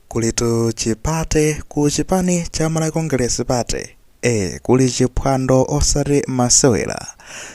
Kulitu chi party ku chipani cha Malawi Congress Party. Eh, kuli chiphwando osati masewera.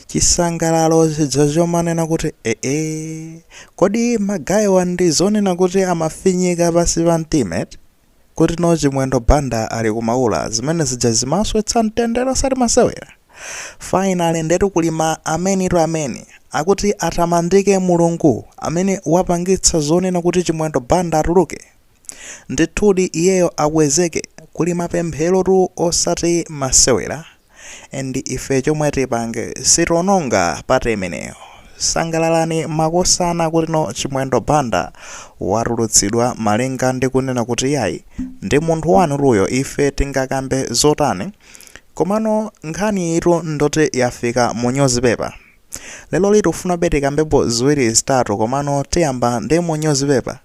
Chisangalalo chija chomanena kuti eh eh. Kodi magayiwa ndi zonena kuti amafinyika pansi pa mtima eti? Kuti no Chimwendo Banda ali ku Maula zimene zija zimasowetsa mtendere osati masewera. Finally ndetu kuli ma amenitu ameni akuti atamandike Mulungu amene wapangitsa zonena kuti Chimwendo Banda atuluke. Ndithudi iyeyo akwezeke, kuli mapempherotu osati masewera and ife chomwe tipange sitiononga party imeneyo. Sangalalani makosana kutino Chimwendo Banda watulutsidwa malinga ndi kunena kuti iyayi ndi munthu wanutu uyo ife tingakambe zotani Komano nkhaniyitu ndoti yafika mu nyuzipepa. Leroli tikufunabe tikambepo ziwiri zitatu komano tiyamba ndi mu nyuzipepa.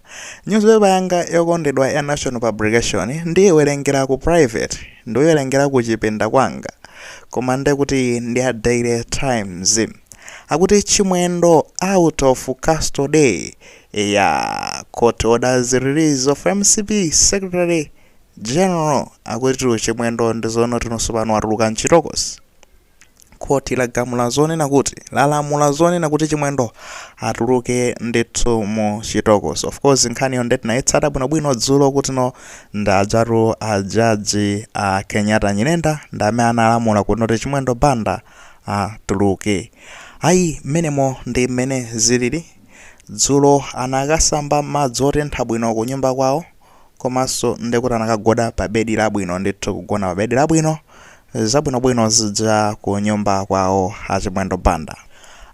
Nyuzipepa yanga yokondedwa ya National Publication ndiyiwerengera ku private, ndiyiwerengera ku chipinda kwanga. Koma nde kuti ndi ya Daily Times. Akuti Chimwendo out of custody. Eya, court orders release of MCP Secretary. General akutitu Chimwendo ndi zonoti no tsopano watuluka mchitokosi. Khoti lagamula zonena kuti lalamula zonena kuti Chimwendo atuluke ndithu mu chitokosi. Of course nkhaniyo nde tinayitsata bwinobwino dzulo kuti no ndi ajatu a jaji a Kenyatta Nyirenda ndi amene analamula kuti no Chimwendo Banda atuluke. Ayi mmenemo ndi mmene zilili. Dzulo anakasamba madzi otentha bwino ku nyumba kwawo. komanso ndekuti anakagona pa bedi labwino ndithu kugona pa bedi labwino zabwinobwino zija ku nyumba kwawo a Chimwendo Banda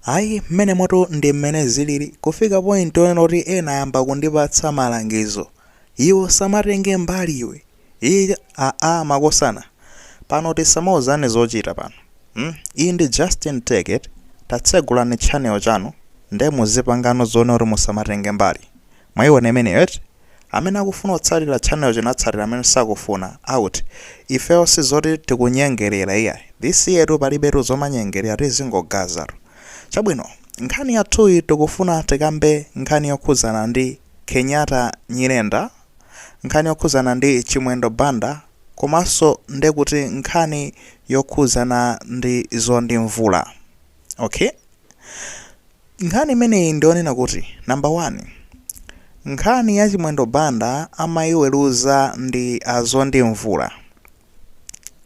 ayi mmenemotu ndi mmene zilili kufika point onena kuti ena ayamba kundipatsa malangizo iwe usamatenge mbali iwe iyi aa makosana pano tisamauzane zochita pano hmm? iyi ndi justin take it tatsegulani channel chanu nde muzipangano zonena kuti musamatenge mbali Mwaiona imeneyo eti? Amene akufuna kutsatira channel chino atsatira amene sakufuna out. Ifeyo sizoti tikunyengerera iyayi. This year tu palibetu zomanyengerera tizingogazatu. Chabwino, nkhani yathuyi tikufuna tikambe nkhani yokhudzana ndi Kenyatta Nyirenda, nkhani yokhudzana ndi Chimwendo Banda komanso ndekuti nkhani yokhudzana ndi Mzonde Mvula. Ok, nkhani imeneyi ndionena kuti number one, nkhani ya Chimwendo Banda amayiweruza ndi a Zondi Mvula.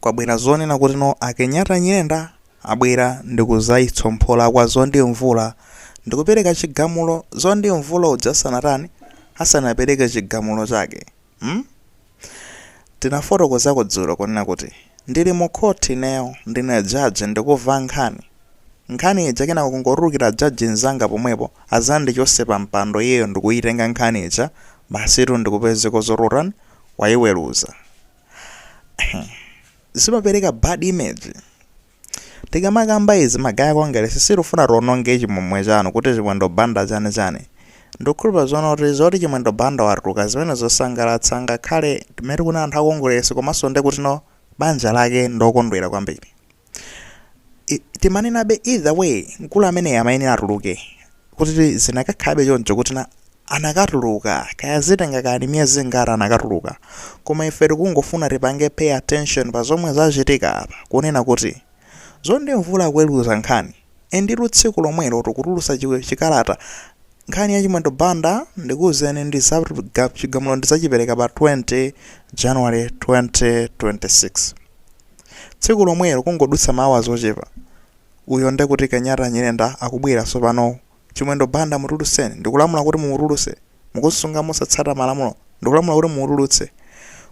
Kwabwera zonena kuti no a Kenyatta Nyirenda abwera ndikuzayitsomphola kwa Zondi Mvula ndikupereka chigamulo Zondi Mvula uja asanatani asanapereke chigamulo chake. Hmm? Tinafotokozako dzulo kunena kuti ndili mu court ineyo ndine judge ndikuva nkhani, nkhani ija kenako kungotulukira judge nzanga pomwepo azandichose pa mpando iyeyo ndikuyitenga nkhani ija basitu ndikupezeka zoti utani wayiweluza. Zimapereka bad image. tikamakamba izi ma guy a kongelesi sitikufuna tiononge chimwemwe chanu kuti chimwendo banda chani chani ndikukhulupira zoona kuti zoti chimwendo banda watuluka zimene zosangalatsa ngakhale timene tikunena anthu akongolesi komanso nde kutino banja lake ndokondwera kwambiri I- timanenabe either way mkulu ameneyi amayenera atuluke kuti zinakakhalabe choncho kuti na anakatuluka kaya zitenga kaya ni miyezi ingati anakatuluka koma ife tikungofuna tipange pay attention pa zomwe zachitika apa kunena kuti zondi mvula kuweruza nkhani inditu tsiku lomwelo tikutulusa chi- chikalata nkhani ya chimwendo banda ndikuwuzeni ndi za ga- chigamulo ndidzachipereka pa 20 january 2026 tsiku lomwelo kungodutsa ma hours ochepa uyo nde kuti kenyatta nyirenda akubwera sopano chimwendo banda mutuluseni ndikulamula kuti mumutuluse mukusunga mosatsata malamulo ndikulamula kuti mumutulutse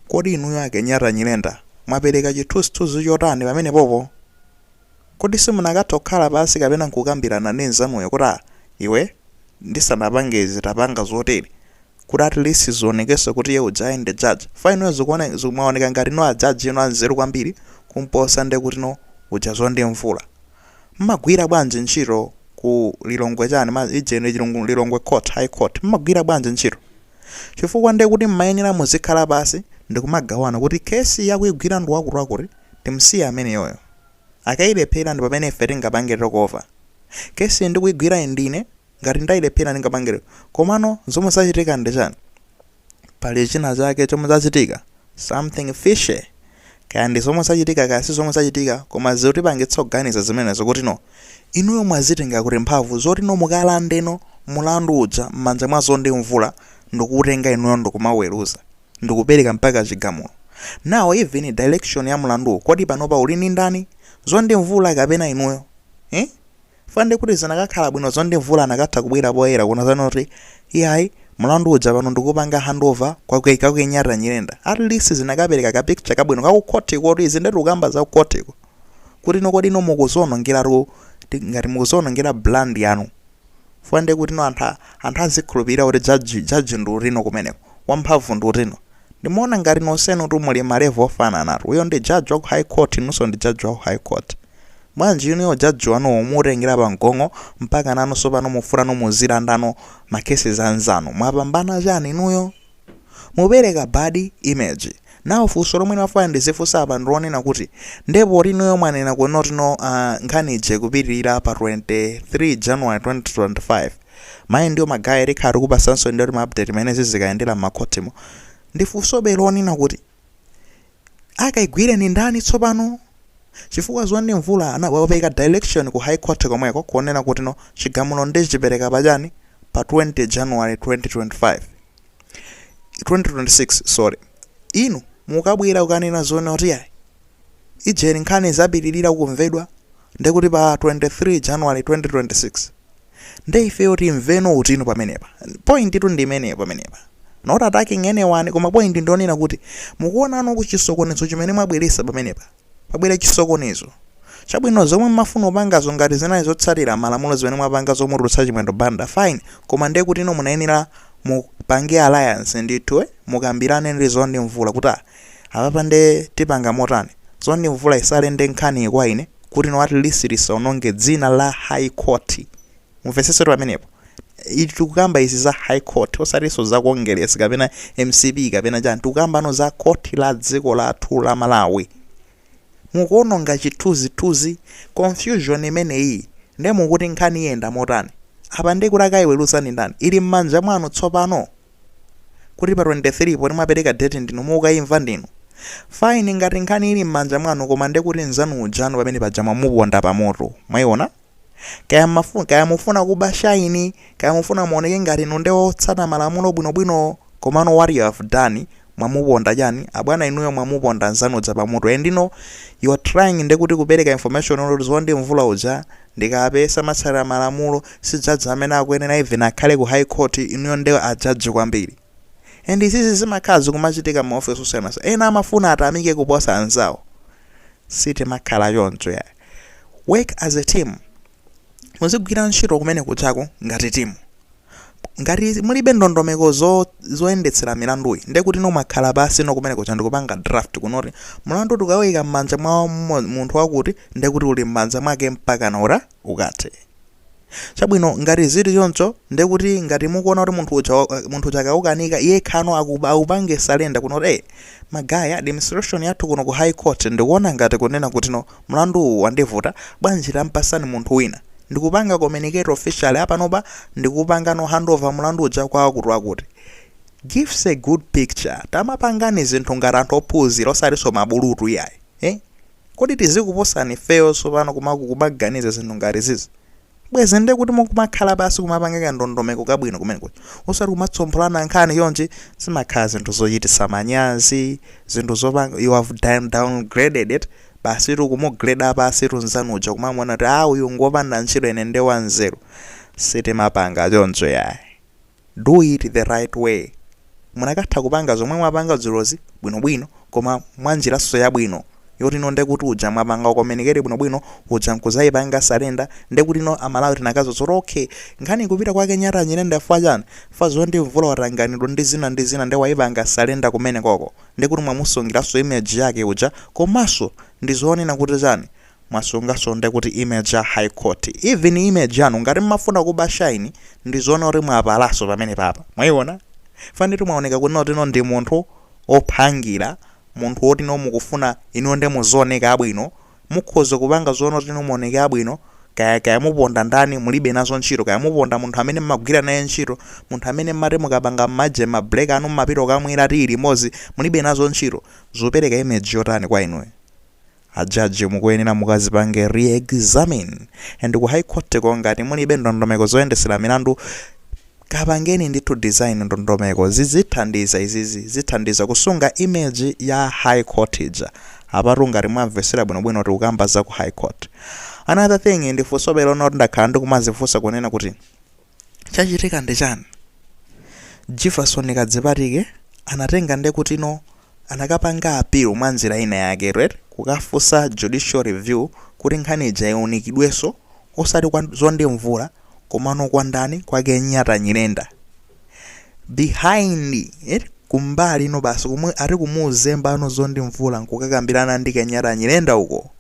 kodi inuyo a kenyatta nyirenda mwapereka chithunzithunzi chotani pamenepopo kodi simunakathe kukhala pansi kapena nkukambirana ndi nzanuyo kuti a iwe ndisanapange izi tapanga zotere kuti at least zionekese kuti iye uja ndi judge fine inuyo zikuone zikumaoneka ngati no a judge inu anzeru kwambiri kumposa nde kuti no uja zondi mvula mmagwira bwanji ntchito ku lilongwe chani ma ije ndi Chilungu- lilongwe court high court mmagwira bwanji ntchito chifukwa nde kuti mmayenera muzikhala pasi ndikumagawana kuti kesi yakuigwira ndi wakuti wakuti timsiye ameneyoyo Akailephera ndi pamene ife tingapange takeover. Case iyi ndikuigwira ine ndine, ngati ndailephera ndingapange lero. Komano zomwe zachitika ndi chani? Pali china chake chomwe chachitika, something fishy. Kaya ndi zomwe zachitika kaya si zomwe zachitika koma zikutipangitsa kuganiza zimenezo kuti no inuyo mwazitenga kuti mphamvu zoti no mukalande no mlandu uja m'manja mwa Zondi Mvula ndikuutenga inuyo ndikumauweruza. ndikupereka mpaka chigamulo now even direction ya mlanduwo kodi panopa uli ndi ndani zondi mvula kapena inuyo eh fa nde kuti zinakakhala bwino zondi mvula anakatha kubwera poyera kunena zoti iyayi mlandu uja pano ndikupanga handover kwa kenyatta nyirenda at least zinakapereka ka picture kabwino ka ku khoti kuti izi nde tikukamba za khotiko kuti no kodi no mukuzionongera ro ngati mukuzionongera brand yanu Fwa ndiye kuti no anthu a- anthu azikhulupirira kuti judge judge ndi uti no kumeneko? Wamphamvu ndi uti no? Ndimaona ngati nonsenutu muli ma level ofananatu. Uyo ndi judge wa ku high court inunso ndi judge wa ku high court. Bwanji inuyo ujudge wanuwo muutengera pa mgong'o mpaka nanunso pano mufuna no muzilanda no ma cases a anzanu? Mwapambana chani inuyo? Mupereka bad image. Now funso lomwe ndimafuna ndizifunsa apa ndilonena kuti nde poti inuyo mwanena kuti no uh, nkhani ija ikupitirira pa 23 January 2025 mayi ndiyo magaya tikhala tikupasanso ndiyoti ma update imene zizikayendera m'makhotimo ndi funsobe lonena kuti akaigwire ndi ndani tsopano chifukwa zondi mvula anapereka direction ku high court komweko kuonena kuti no chigamulo ndichipereka pa chani pa 20 january 2025 2026 sorry inu mukabwera kukanena zonena kuti yayi ijeni nkhani izapitirira kumvedwa ndekuti pa 23 january 2026 nde ifeyo timve no uti no pamenepa point tu ndi imeneyo pamenepa not attacking anyone koma point ndi yonena kuti mukuona no chisokonezo chimene mwabweresa pamenepa pabwera chisokonezo chabwino zomwe mmafuna kupangazo ngati zinali zotsatira malamulo zimene mwapanga zomutulutsa chimwendo banda fine koma ndiye kutino munayenera mupange alliance ndithu eh, mukambirane ndi zondi mvula kuti ah, apapa nde tipanga motani zondi mvula isurrender nkhaniyi kwa ine kuti no at least tisaononge dzina la high court mumvetsetsetu pamenepo I- tikukamba izi za high court osatinso za congress kapena mcp kapena chani tikukambano za court la dziko lathu la malawi mukuononga chithunzithunzi confusion imeneyi nde mukuti nkhani iyenda motani apa nde kuti akaiweruza ndi ndani ili mmanja mwanu tsopano kuti pa 23 poti mwapereka date ndinu mukaimva ndinu fine ngati nkhani ili mmanja mwanu koma nde kuti mzanu ujanu pamene paja mwamuponda pamoto mwaiona kaya mafuna kaya mufuna kuba shine kaya mufuna muoneke ngati inu nde otsata malamulo bwinobwino komano what you have done mwamuponda chani abwana inuyo mwamuponda nzanu uja pamutu and now you are trying nde kuti kupereka information olo zondi mvula uja ndi kape samatsatira malamulo si judge amene akuyenera even akhale ku high court inuyo nde a judge kwambiri and izizi zimakhala zikumachitika mu office osiyanasiyana ena amafuna atamike kuposa anzawo sitimakhala choncho yayi work as a team muzigwira ntchito kumene kuchako ngati timu ngati mulibe ndondomeko zo- zoyendetsera milanduyi nde kuti no mwakhala pansi no kumene kucha ndikupanga draft kunoti mlandu tikawuyika m'manja mwa mo- munthu wakuti nde kuti uli m'manja mwake mpakana uta- ukathe chabwino ngati zili choncho ndekuti ngati mukuona kuti munthu uja wa- munthu uja akaukanika yekha no akaupange surrender kuno kuti hey, magaye administration yathu kuno ku high court ndikuona ngati kunena kuti no mlandu uwu wandivuta bwanji tampasani munthu wina ndikupanga communicate officially apanopa ndikupanga no handover mlandu uja kwa akuti akuti gives a good picture tamapangani zinthu ngati anthu ophunzira osatinso mabulutu iyayi eh? Kodi tizikuposani ifeyo tsopano kuma- kumaganiza zinthu ngati izizi? Bwezi ndekuti mukumakhala pansi kumapanga kandondomeko kabwino kumene kuja. Osati kumatsompholana nkhani chonchi zimakhala zinthu zochititsa manyazi, zinthu zopanga you have down, downgraded it basitu kumugreda pansitu nzanu uja kumamuona kuti ah uyu ngopanda ntchito ine nde wanzeru. Sitimapanga choncho yayi. Do it the right way. Munakatha kupanga zomwe mwapanga dzulozi bwino bwino koma mwa njiranso yabwino yoti no nde kuti uja mwapanga communicate bwino bwino uja nkuzaipanga surrender nde kuti no a Malawi tinakaziwa zoti ok nkhani ikupita kwa Kenyatta Nyirenda chifukwa chani? Chifukwa Mzonde Mvula watanganidwa ndi zina ndi zina nde waipanga surrender kumenekoko nde kuti mwamusungilanso image yake uja komanso ndi zonena kuti chani? mwasungaso nde kuti image ya high court even image yanu ngati mmafuna kuba shine ndizoona kuti mwapalaso pamenepapa mwaiona fanitu mwaoneka kuti no ndi munthu ophangira munthu woti no mukufuna inuyo nde muzioneka abwino mukhoza kupanga zoona kuti no muoneke abwino kaya kaya muponda ndani mulibe nazo ntchito kaya muponda munthu amene mmagwira naye ntchito munthu amene mmati mukapanga mmaje ma break anu mmapita okamwera tiyi limodzi mulibe nazo ntchito zopereka image yotani kwa inuyo A judge mukuyenera mukazipange re-examine and ku high court ko ngati mulibe ndondomeko zoyendesera milandu kapangeni ndithu design ndondomeko zizithandiza izizi zithandiza kusunga image ya high court ija apatu ngati mwamvesera bwinobwino tikukamba za ku high court another thing ndi funsobe lonena kuti ndakhala ndikumazifunsa kunena kuti chachitika ndi chani jivason kadzipatike anatenga nde kuti no anakapanga appeal mwa njira ina yake right kukafunsa judicial review kuti nkhani ija iunikidweso osati kwa mzonde mvula komano kwa ndani kwa kenyatta nyirenda behind it kumbali ino basi komwe ari kumuzembano mzonde mvula nkukakambirana ndi kenyatta nyirenda uko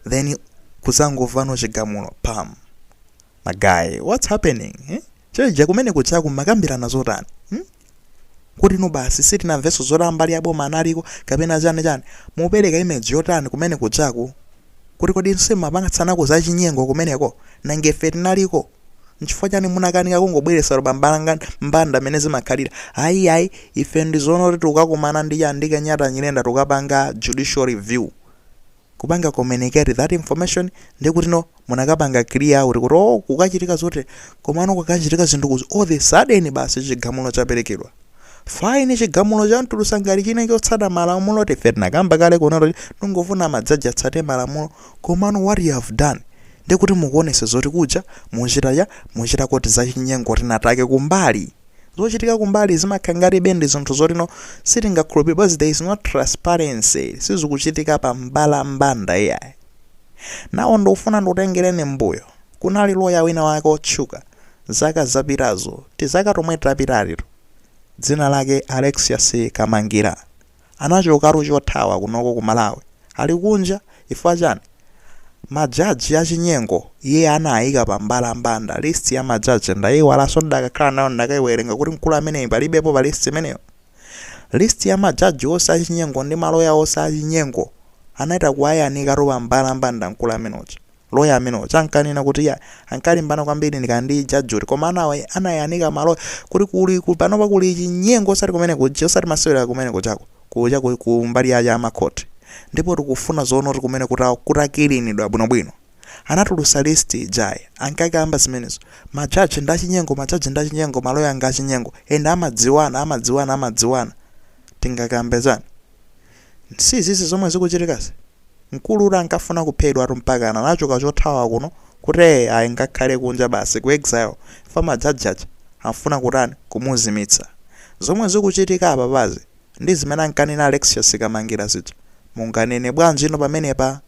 then kuzangovano chigamulo pam Ma guy, what's happening? Eh? Chija kumene kujaku mwakambirana zotani? Hmm? Kuti no basi sitinamvenso zoti a mbali ya boma analiko kapena chani chani. Mukupereka image yotani kumene kujaku? Kuti kodi nanunso mwapangitsanako za chinyengo kumeneko nanga ife tinaliko. Nchifukwa chani munakanika kungobweretsa pa mbalambanda mmene zimakhalira. Ayi ayi ife ndi zoona kuti tikukakumana ndi ya ndi Kenyatta Nyirenda tukapanga judicial review. kupanga communicate that information ndi kuti no munakapanga clear out kuti oh kukachitika zotere komano kukachitika zinthu kuzi all the sudden basi chigamulo chaperekedwa fine chigamulo chamutulutsa ngati chili chotsata malamulo ife tinakamba kale kunena tikungofuna majaji atsate malamulo komano what you have done ndi kuti mukuonesa zoti kuja muchita ya muchitako zachinyengo ndi a Dathake kumbali zochitika kumbali zimakhala ngatibe ndi zinthu zoti no sitingakhulupirire because there is no transparency sizikuchitika pa mbalambanda iyayi now ndikufuna ndikutengereni m'mbuyo kunali loya wina wake otchuka zaka zapitazo tizaka tomwe tapitatitu dzina lake Alexious Kamangila Anachokatu chothawa kunoko ku Malawi ali kunja chifukwa chani? Majaji achinyengo iye anaika pa mbalambanda list ya majaji ndaiwalanso ndidakakhala nayo ndikadaiwerenga kuti mkulu ameneyi palibepo pa list imeneyo. List ya majaji onse achinyengo ndi maloya onse achinyengo anaita kuwayanikatu pa mbalambanda mkulu amene uja. Loya amene uja ankanena kuti ya ankalimbana kwambiri ndi ka judge uti koma anawa- anayanika maloya kuti kuli ku- panopa kuli chinyengo osati kumene kuja osati masewera kumene kujako kuja ku- ku mbali ya ya makhoti ndipo tikufuna zoona kuti kumene kuta- kutakilinidwa bwinobwino anatulutsa list ijayi ankakamba zimenezo majaji ndi achinyengo majaji ndi achinyengo maloya nga achinyengo ende amadziwana amadziwana amadziwana tingakambe chani Si izizi zomwe zikuchitikazi? Mkulu uti ankafuna kuphedwatu mpakana anachoka chothawa kuno kuti ee ayi ndikakhale kunja basi ku exile chifukwa majaji aja ankafuna kutani? Kumuzimitsa. Zomwe zikuchitika apapazi ndi zimene ankanena Alexious Kamangila zija. Munganene bwanjino pamenepa?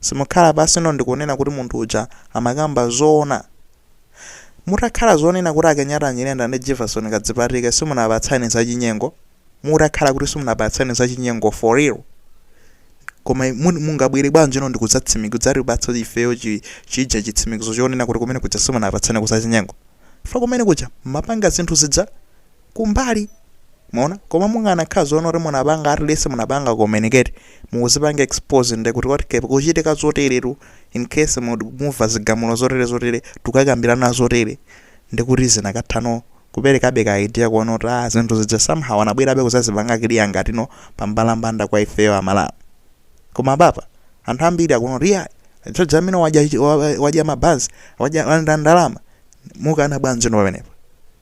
Simukhala pansino ndikunena kuti munthu uja amakamba zoona? Mutakhala zonena kuti a Kenyatta Nyirenda ndi Jivason Kadzipatike simunapatsane zachinyengo? mutakhala kuti simunapatsane za chinyengo for real koma mun- mungabwere bwanjino ndikudzatsimi- kudzatipatsa ifeyo chi- chija chitsimikizo chonena kuti kumene kuja simunapatsane ko za chinyengo fa kumene kuja mwapanga zinthu zija kumbali mwaona koma mukanakhala zoona kuti munapanga at least munapanga communicate mukuzipanga expose nde kuti kwati kukuchitika zoteretu in case mu- mumva zigamulo zotere zotere tukakambirana zotere ndikuti zinakathano kuperekabe ka idea kuona kuti ah zinthu zija somehow anabwerabe kuzazipanga clear ngati no pambalambanda kwa ifeyo amalawi koma apapa anthu ambiri akuona kuti yeah Jomo wadya chi- wa- wa- wadya mabanzi wadya wanda ndalama mukana bwanji no pamenepo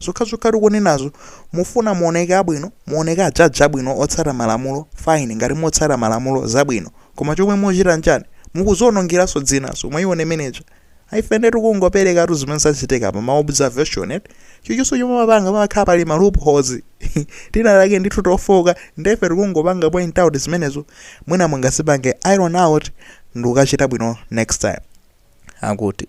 zokhazokha tikunenazo mufuna muoneke abwino muoneke ajaji abwino otsata malamulo fine ngati motsata malamulo zabwino koma chomwe muchita nchani mukuzionongeranso dzinanso mwaiona meneja ife nde tikungoperekatu zimene zachitika pa ma observation eti chilichonse chomwe mapanga pamakhala pali ma loopholes tina take ndithu tofooka nde ife tikungopanga point out zimenezo mwina mungazipange iron out ndikukachita bwino next time akuti